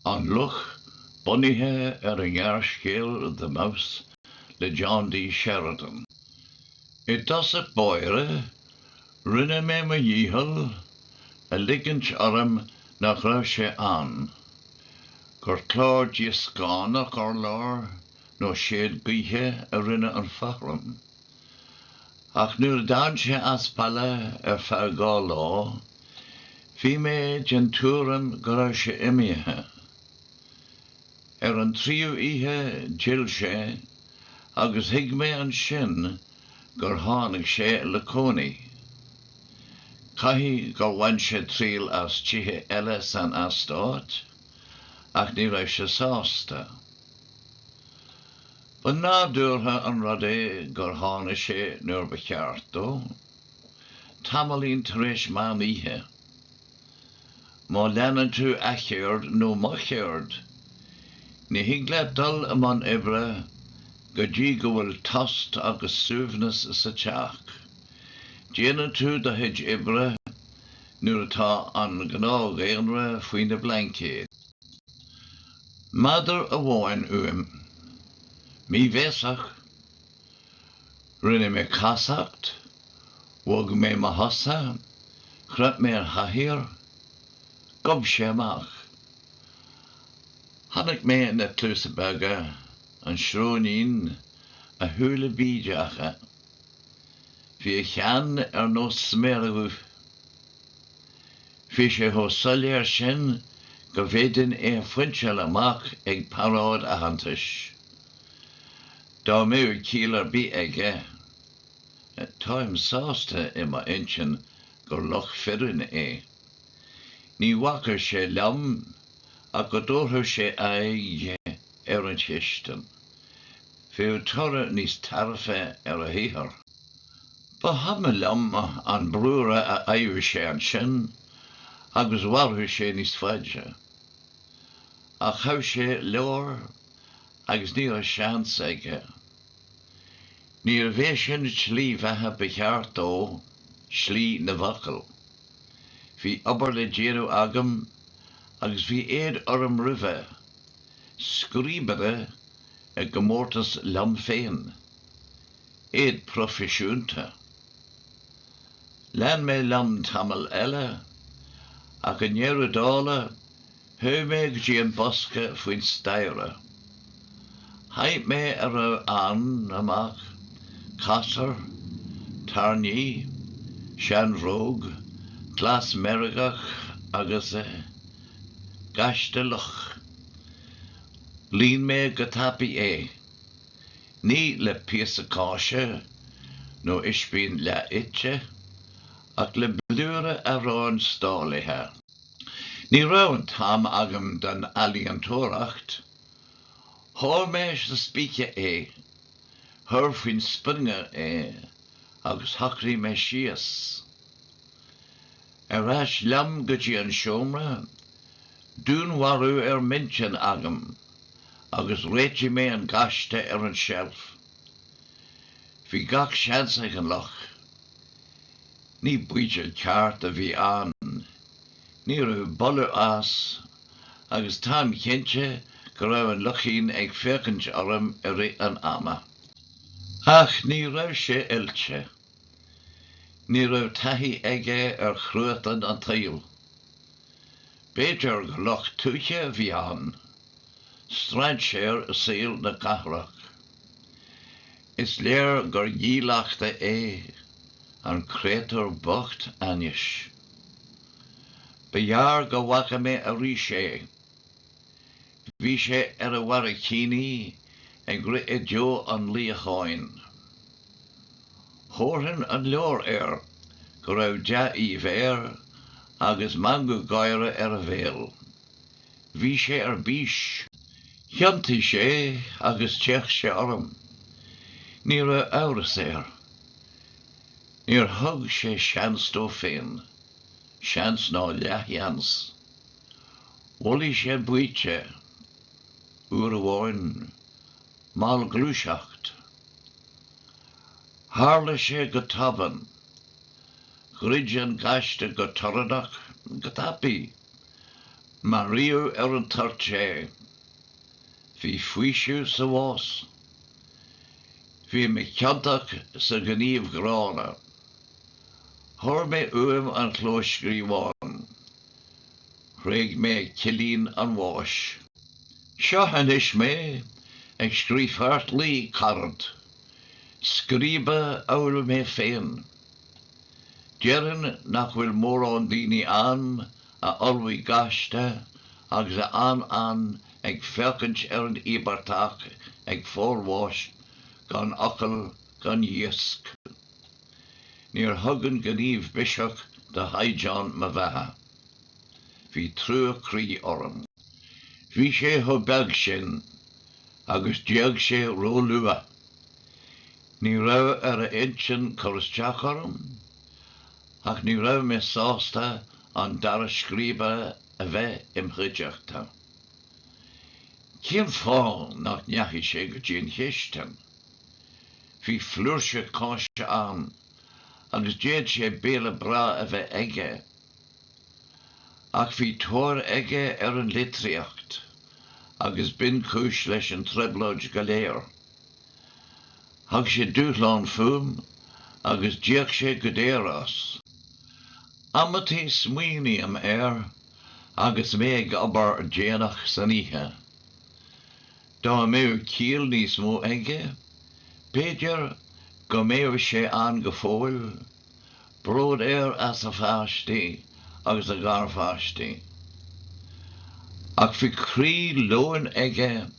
An Luch, bunaithe ar an ngearrscéal 'The Mouse' le John D. Sheridan. I dtosach báire, rinne mé mo dhícheall a ligint orm nach raibh sé ann, gur clár díoscánach urláir nó séad gaoithe a rinne an fothram, Ach nuair a d'fhan sé as baile ar feadh dhá lá, bhí mé den tuairim go raibh sé imithe. Ar an tríú oíche d'fhill sé agus thuig mé ansin gur tháinig sé le cónaí. Caithfidh gur bhain sé triail as tithe eile san eastát, ach ní raibh sé sásta. Ba nádúrtha an rud é gur tháinig sé nuair ba cheart dó, tamaillín tar éis meán oíche. Má leanann tú a cheird nó mo cheird, ní thig leat dul i mbun oibre go dtí go bhfuil tost agus suaimhneas sa teach. Déanann tú do chuid oibre nuair atá an gnáthdhaonra faoina blaincéid. Méadar amháin uaim. Míbhéasach. Rinne mé casacht, bhog mé mo chosa, chroith mé an chathaoir. Ghob sé amach. Chonaic mé na cluasa beaga, an sróinín, a shúile bídeacha. Bhí a cheann ar nós sméire duibhe. Bhí sé chomh soiléir sin go bhféadfainn é a phointeáil amach ag paráid aitheantais, dá mbeadh ciall ar bith aige. Táim sásta i m'intinn gur luch fireann é. Ní bhacfadh sé liom ach go dtabharfadh sé aghaidh. ar an chistin. Bheadh toradh níos tairbhí ar a shaothar. Ba chuma liom an brúscar a fhaigheadh sé ansin agus mhairfeadh sé níos faide. Ach ghabh sé leabhar agus ní raibh seans aige. Níorbh é sin an tslí bheatha ba cheart dó, slí na bhfocal. Bhí obair le déanamh agam agus bhí éad orm roimhe. scríobaire i gcomórtas liom féin. Éad proifisiúnta. Lean mé liom tamall eile, ach i ndeireadh dála, chuaigh mé go dtí an bosca faoin staighre. Chaith mé a raibh ann amach, casúr, tairní, seanbhróg, glas meirgeach agus. Gaiste luch. Líon mé go tapaidh é. Ní le píosa cáise nó ispín leath-ite, ach le blúire aráin stálaithe. Ní raibh an t-am agam don ealaíontóireacht. Sháigh mé sa spíce é, chuir faoin sprionga é agus shocraigh mé síos. Ar ais liom go dtí an seomra, dúnmharú ar m'intinn agam, agus réitigh mé an gaiste ar an tseilf. Bhí gach seans ag an luch. Ní baoite ceart a bhí ann. Ní raibh boladh as, agus táim cinnte go raibh an luchín ag féachaint orm i rith an ama. Ach ní raibh sé oilte. Ní raibh taithí aige ar chruatan an tsaoil. B'fhéidir gur luch tuaithe a bhí ann, strainséir i saol na cathrach. Is léir gur dhílleachta é an créatúr bocht ainnis. Ba ghearr go bhfaca mé arís é. Bhí sé ar a bharraicíní ag rith i dtreo an luíocháin. Thabharfainn an leabhar air go raibh dea-aoibh air agus meangadh gáire ar a bhéal. Bhí sé ar bís. Thiontaigh sé agus d'fhéach sé orm. Ní raibh amhras air. Níor thug sé seans dó féin, seans ná leathsheans. Bholaigh sé an baoite, uair amháin, mallghluaiseacht. Tharla sé go tobann. Dhruid an gaiste go torannach, go tapaidh. Maraíodh ar an toirt é. Bhí faoiseamh sa bhás. Bhí mé ciontach sa ghníomh ghránna. Chuir mé uaim an clóscríobhán. Thréig mé cillín an bháis. Seo anois mé ag scríobh feartlaoi carad, scríbe amhail mé féin. Déarfainn nach bhfuil mórán daoine ann a ullmhaigh gaiste agus a fhan ann ag féachaint ar an íobartach ag fáil bháis gan fhocal gan ghíosc. Níor thug an gníomh biseach do chaighdeán mo bheatha. Bhí trua croí orm. Bhí sé chomh beag sin agus d'éag sé róluath. Ní raibh ar a intinn cur isteach orm ach ní raibh mé sásta an dara scríobhaí a bheith im chuideachta. Cén fáth nach ndeachaigh sé go dtí an chistin? Bhí flúirse cáise ann agus d'fhéad sé béile breá a bheith aige. Ach bhí tóir aige ar an litríocht agus b'in ba chúis leis an trioblóid go léir. Thug sé dúshlán fúm agus d'íoc sé go daor as. Amantaí smaoiním air agus mé ag obair déanach san oíche. Dá mbeadh ciall níos mó aige, b'fhéidir go mbeadh sé ann go fóill, bród air as a pháistí agus a gharpháistí. Ach bhí croí leoin aige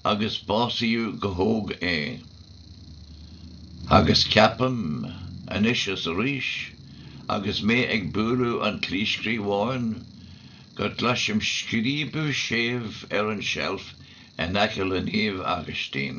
agus básaíodh go hóg é. Agus ceapaim, anois is arís agus mé ag bualadh an chlóscríobháin, go gcloisim scríobadh séimh ar an tseilf in aice le Naomh Agaistín.